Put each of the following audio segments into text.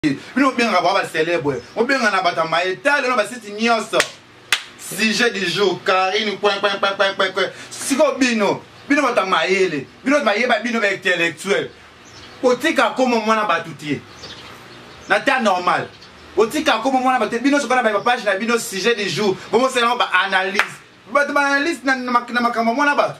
ye bino bobengaka bwa bacelebre bobenga na bato ya maye tale na basiti nyonso sujet du jour karine kwenkwenkwenkwenkwe siko bino bino bato ya mayele bino bayeba bino baintellectuel otika koma mwana bato te na ta normal otika koma mwana bato te bino sokona bapage na bino sujet du jour bomosalango baanalyse bato baanalyse na makambo mwana bato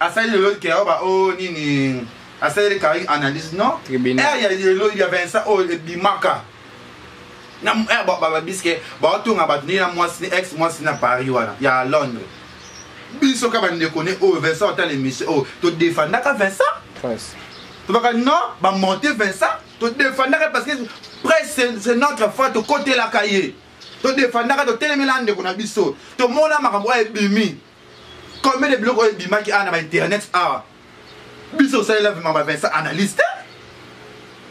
asali lelo ke oyo ba oyo nini asaleli kari analyse non ere ya lelo ya vincent oyo oh, ebimaka na ere babiske baotonga bato ndenge na mwasi ni ex mwasi na paris wana ya londres biso ka bandeko ne oyo oh, vincent otala emission oyo oh, todefandaka vincent tobaka non bamonte vincent todefandaka parce que presse c'est notre foi tokotelaka ye todefandaka totelemela ndeko na biso tomona makambo oyo ebimi combien de biloko oyo ebimaki awa na ba internet awa biso osalela vima ba vincent analyse te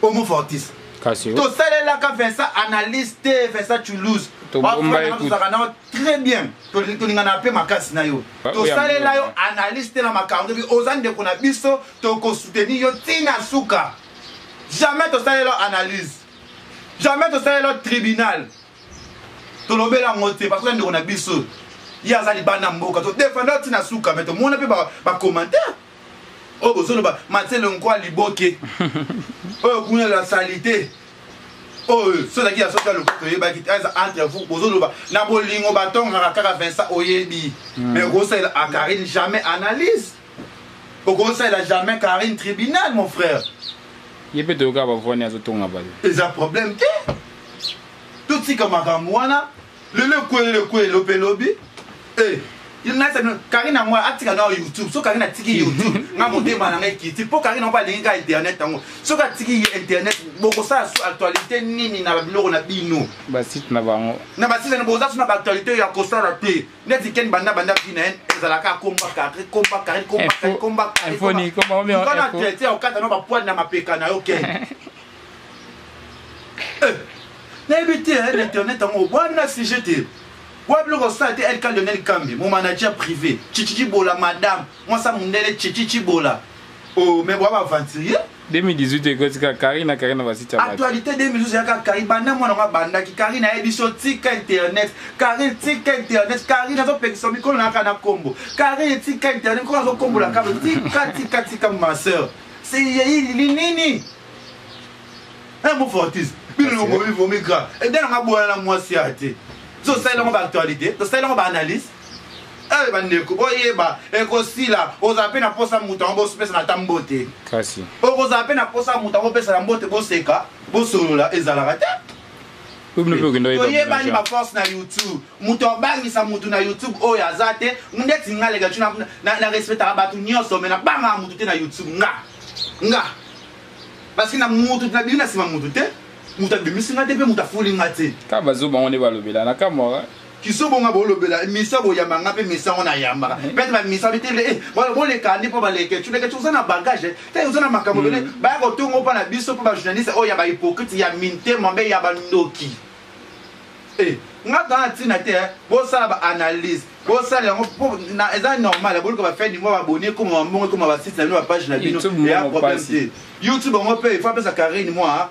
homo fortis tosalelaka vincent analyse te vincent toulouse tozalaka nao très bien tolingana mpe makasi na yo ah, tosalela yo analyse te na makambo tobi oza ndeko na biso tokosoutenir yo ntina suka jamais tosalela analyse jamais tosalela tribunal tolobela yango te parce que ndeko na biso ye aza libanda mboka todefanda ti na suka me tomona mpe bacommentaire oyo bozoloba matiele nkwa liboke oyo kuna la salite oyo so ezalaki ya soki ya lokuta oyebaki eza entre vous bozoloba na bolingo batongaka kaka vincent oyebi me hmm. kosalela akarine jamais analyse okosalela jamais carine tribunal mon frère ye mpe toyoka bavwani azotonga baye eza problème te totika makambo wana lelo ekwelele ekwelelo mpe lobi eh, karine yango atika nao youtube soki karine atiki youtube nga motema na ngai kiti mpo karine yango alingi ka internet yango soki atiki internet bokosala su actualité nini na babiloko na bino basite na bango na basite na boza su na baactualité ya kosala te neti ken banda banda vie na ye ezalaka akomba carre komba carre komba carre komba carrekana traite ya okata no bapoile na mapeka na yo ken eh, nayebi te na internet yango obwana sujet te oyo biloko osala te elka lionel kambi mo manager privé chichichibola madame mwasa mundele chichichibola o oh, me bwa baaventurier 2018 ekoti kaka Carine na Carine na basite ya actualité 2012 ya kaka Carine banda mwana ngo abandaki Carine ayebi so tika internet Carine tika internet Carine azopekisa mikolo na kaka na kombo Carine tika internet mikolo azokombola kaka tika tika tika ma sœur c'est nini un mot fortis bino longomi vomi grave ede nanga boyana na mwasi ya te tosalela ngo baactualité tosalela ngo baanalyse Eh bandeko boyeba ekosila ozala mpe na mposa moto yango bopesana ata mbote kasi okozala mpe na mposa moto yango bopesana mbote boseka bosolola ezalaka te oyebani baforce na youtube moto abangisa moto na youtube oyo aza te ndeti nga leka ti na respectaka bato nyonso me nabangaka moto te na youtube nga nga parceke na moto nabimi na nsima moto te moto abimisi nga te mpe moto afuli nga te ka bazoba ngo nde balobela nakamwaka kisobo nga bolobela misa boyamba nga mpe misa ngo nayambaka eh. pete bamisa bitele eh, boleka nde mpo baleke culekeci oza na bagage te eh, oza na makambo bele hmm. baya kotongo mpo na biso mpo bajournaliste oyo oh, ya bahypocrite ya mintema mpe ya bandoki nga tana ntina te bosala baanalyse bosala yango eza normal boluka bafai ningo baboni ekoma bambongo ekoma basite na bino bapage na bino eya problème te youtube yango mpe ifo apesa carine mwa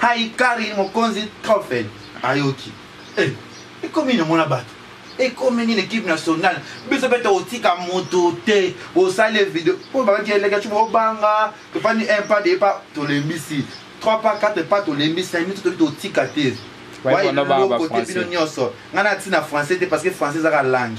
Hi Carine Mokonzi Trophée ayoki eh, ekomi nini omona bato ekomi nini ekipe nationale biso mpe tokotika moto te osali video oyo bakaki eleka cuba obanga tofandi un pas de pas tolembisi 3 pas 4 pas tolembisi na mito toki totika te wayelokote bino nyonso ngai natina français te parce que français ezaka langue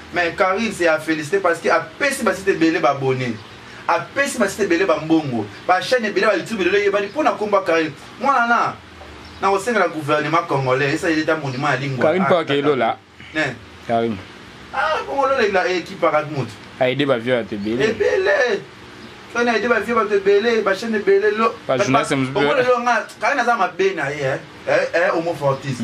Mais Carine c'est à féliciter parce que apesi ba site belé ba abonné. Apesi ba site belé ba mbongo. Ba chaîne belé ba YouTube lelo yebani pona komba Carine. Mwana na na kosengela gouvernement congolais esa yeleta monument ya lingua. Carine pa kelola. Ne. Carine. Ah, bongo lola ila ekipa eh, kat mutu. A aider ba vieux à te belé. Et belé. soki na ete bavie bato ebele bachaine ebele loomona lelo nga kaka naza mabe na ye homofortis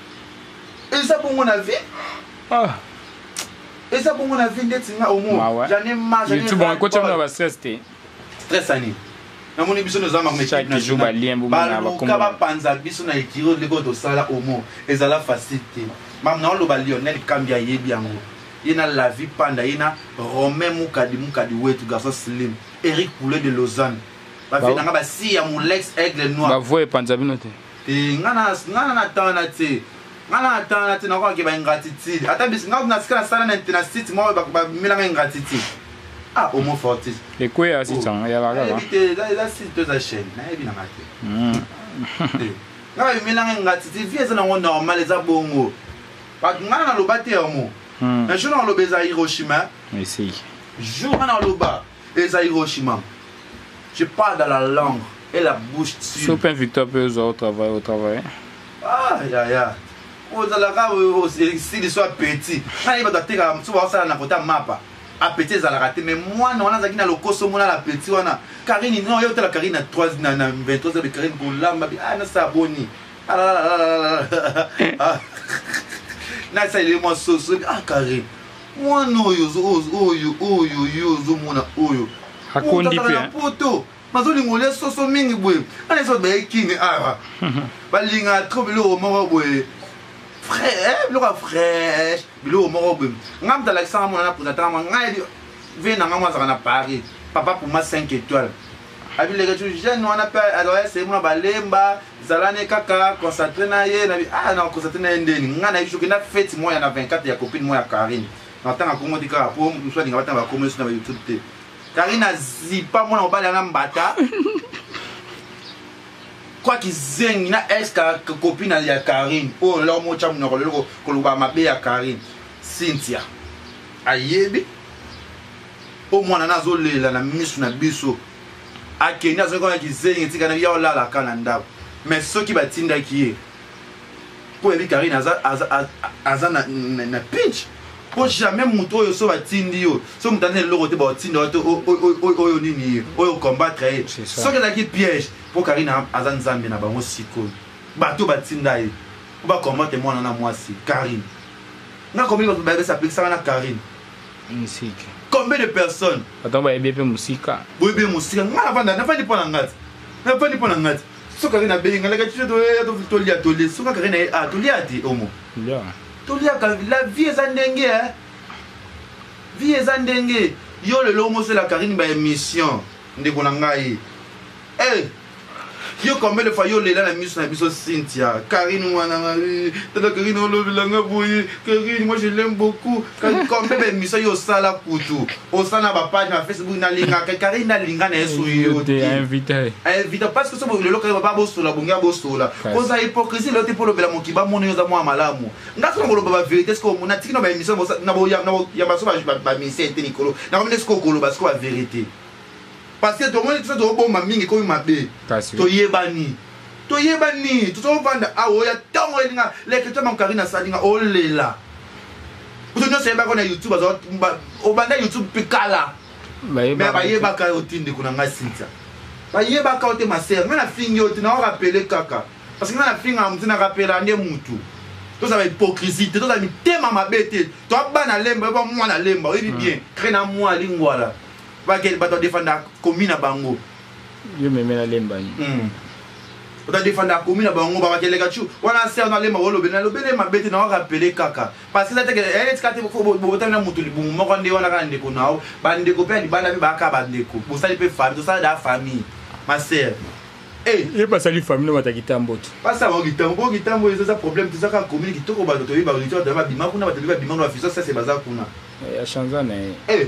eza bongo na vie ah. eza bongo na vie ndeti nga omoyoutube ba stress te stress ani namoni biso noza makobaluka bapanza biso na ekiro ndeko oyo tosala omo ezala facile te mam naoloba lionel kambi ayebi yango ye na lavi panda ye na romain mukadi mukadi wetu garçon slim eric poulet de lausanne bafendanga basi ya molex aigle noir bavoye epanza bino te te nga na nga na natana te nga na natana te nakoka ke ba ingratitude ata bis nga na sika na sala na na site moko ba ba mila nga ingratitude ah homo fortis et quoi ya site oh. ya la la te la la site to za chaîne na ebi na nga te hmm. eh. nga ba mila nga ingratitude vie eza na ngo normal eza bongo ba nga na loba te homo hmm. na jour na loba eza Hiroshima mais si jour na loba Eza Hiroshima. Je parle dans la langue et la bouche dessus. Super Victor peut au travail, au travail. Ah, ya, ya. ozalaka esili so apeti ngai bato atekaka mosusu baosala na kota mapa apeti ezalaka te mais mwana wana azalaki na lokoso mona na apeti wana karine no yo otala karine na 3 na 23 abe karine kolamba bi ah nasala boni alalalala ah, ah, ah, nasaleli mwa soso ah karine mwana oyo oyo oyo yo ozomona oyo akondi mpe na poto bazolinga olia soso mingi boye ana ezo baye kini awa balingaka tro biloko moko boye eh, biloko ya fraîche biloko moko boye ngai moto alakisanga mwana na potatanga ngai ve na ngai mo azalaka na paris papa puma 5 étoile abileke tu jeune wana mpe azalaki seli mona balemba zala ne kaka concentre na ye na ah, na concentre na ye ndeni ngai nayebi soki na fete moya na 24 ya copine moya karine natanga kongo ti kaka mpo mosu alinga batanga bakomi nyonso na bayoutube te karine azipa mwana mobali ana mbata kwa kizengi na ex copine ya karine oyo lelo motya monoko lelo koloba mabe ya karine cynthia ayebi mpo mwana na azolela na misu na biso akende azongi kona kizengi etika na biya olalaka na ndako me soki batindaki ye mpo oyebi karine aza, aza, aza, aza na, na, na pinche mpo jamais moto oyo so batindi yo so moto aza na eloko te baotinda yo te oyo nini ye oyo combattre ye soki ezalaki piège mpo karine aza nzambe na bango sikoyo bato batinda ye mpo bacombattre mwana na mwasi karine nga komi bato bayebisa apekisaka na karine musika combien de personnes ata bayebi mpe musika boyebi ye musika nga navanda navandi mpo na ngati navandi mpo na ngati soki ake nabengi nga laka tiso tolia tolie soki akake na ye a ah, tolia te omo toliaka la vie eza ndenge e vie eza ndenge yo lelo omosela karine baémission ndeko na ngai e eh! yo combien de fois yo lela na miso na biso Cynthia Karine mwana ngai tata Karine olobela nga boye Karine moi je l'aime beaucoup combien ba émission yo osala kutu osala ba page na Facebook na linga Karine na linga na yesu yo te invité invité parce que so bo lelo Karine ba bosola bongi ya bosola oza hypocrisie lelo te po lobela mokiba mono yo za mwa malamu nga so ngoloba ba vérité ce que on a tiki na ba émission na bo ya ba so ba ba mise te likolo na ko mine ce que okoloba ce que ba vérité parce que tomoni biso tobomba mingi ekomi mabe toyebani toyebani tozovanda awa oya ntongo elinga leketya mankari na salinga olela kutu nyonso eyebaka na youtube obanda youtube mpe kala me bayebaka yo te ndeko na ngai sintia bayebaka yo te masere ngai nafingi yo te naorapele kaka parce que ngai nafinga motu narapela nde motu tozala hypocrisie te tozala mitema mabe te toabana lemba oyebi mwana lemba oyebi hmm. bien kre na mwa lingwala Bakeli bato ya defanda komi na bango. Yo meme na lemba ni. Mm. Ota defanda komi na bango ba bakeli kachu. Wana sœur na lemba wolo bena lobele mabete na waka pele kaka. Parce que ça te que elle est kate faut bota na mutu libumu moko nde wana ka ndeko nao. Ba ndeko pe libala pe ba ka ba ndeko. Bosali pe famille, ça da famille. Ma sœur. Eh. ye basali famille bata kitambo te basala bango kitambo mpo kitambo eza problème toza kaka commune kitoko bato toyebi baauditeur tala babima kuna bato toyebi babima kuna bafisosese baza kuna eh, achanza na ye eh.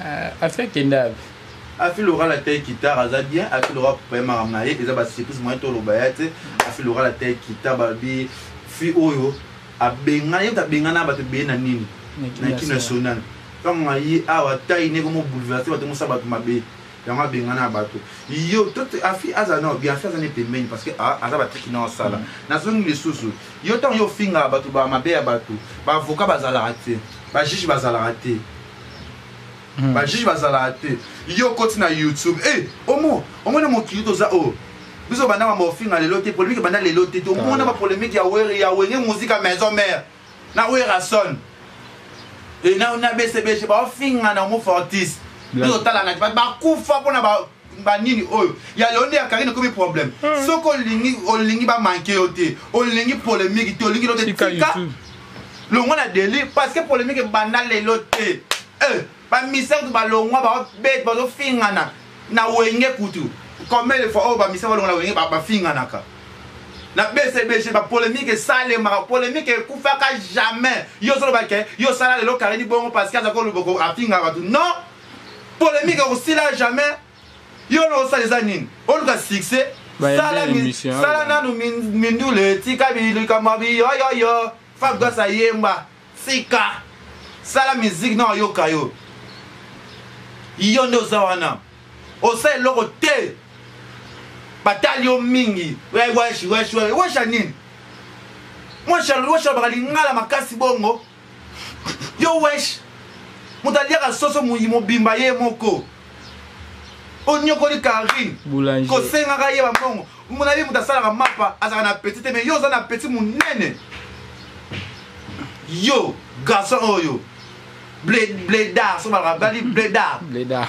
Ah, afi akenda wapi afi loral atei kitar aza bien afi loral kopaye makambo na ye eza basurprise moyen toloba ya te afi loral atei kitar balobi fi oyo abengana ye moto abengana bato ebele na nini na ki national ntango aye awa tai ne komo bouleverse bato mosala bato mabe yango abengana ya bato yo afi aza nao bien afi aza ne pembeni parce que ah, aza batriki nao asala mm. nazongi lisusu yo ntango yo ofingaka bato bamabe ya bato baavoka bazalaka te bajuge bazalaka te Hmm. ba juge bazalaka te yo okoti na youtube e omo omona mokili toza o oh. biso banda mambo ofinga lelo te polemike banda lelo te tomona bapolemike ya were ya wenge musika maison mare na werason e na bcbg baofingana omo fortis biso totalana te bakufa mpona ba nini oyo ya lelo nde ya karine ekomi problème hmm. soki olingi olingi bamanke yo te olingi polémique te olingi lote tika longwa na deli parce que polémique ebanda lelo te eh, bamisa kutu balongwa baobete bazofingana na wenge kutu combien de fois oyo bamisa balongwa na wenge bafinganaka na bcbg bapolémique esalemaka polémique ekufaka jamais yo ozoloba ke yo osala lelo karini bongo parce que aza koloba afinga bato non polemique ekosila jamais yo na osala eza nini oluka succès sala nanu mindule tika bilikamwa biyoyoyo fabgas ayemba tika sala miziki na oyoka yo yo nde oza wana osala eloko te batali yo mingi weshi weshi weshi ya nini weshi alobaka lingala makasi bongo yo wesh moto aliaka soso moyi mobimba ye moko onyokoli karine kosengaka ye bambongo mona ye moto asalaka mapa azalaka na apeti te mai yo oza na apeti monene yo garçon oyo bledar sobalaka bali bledar bledar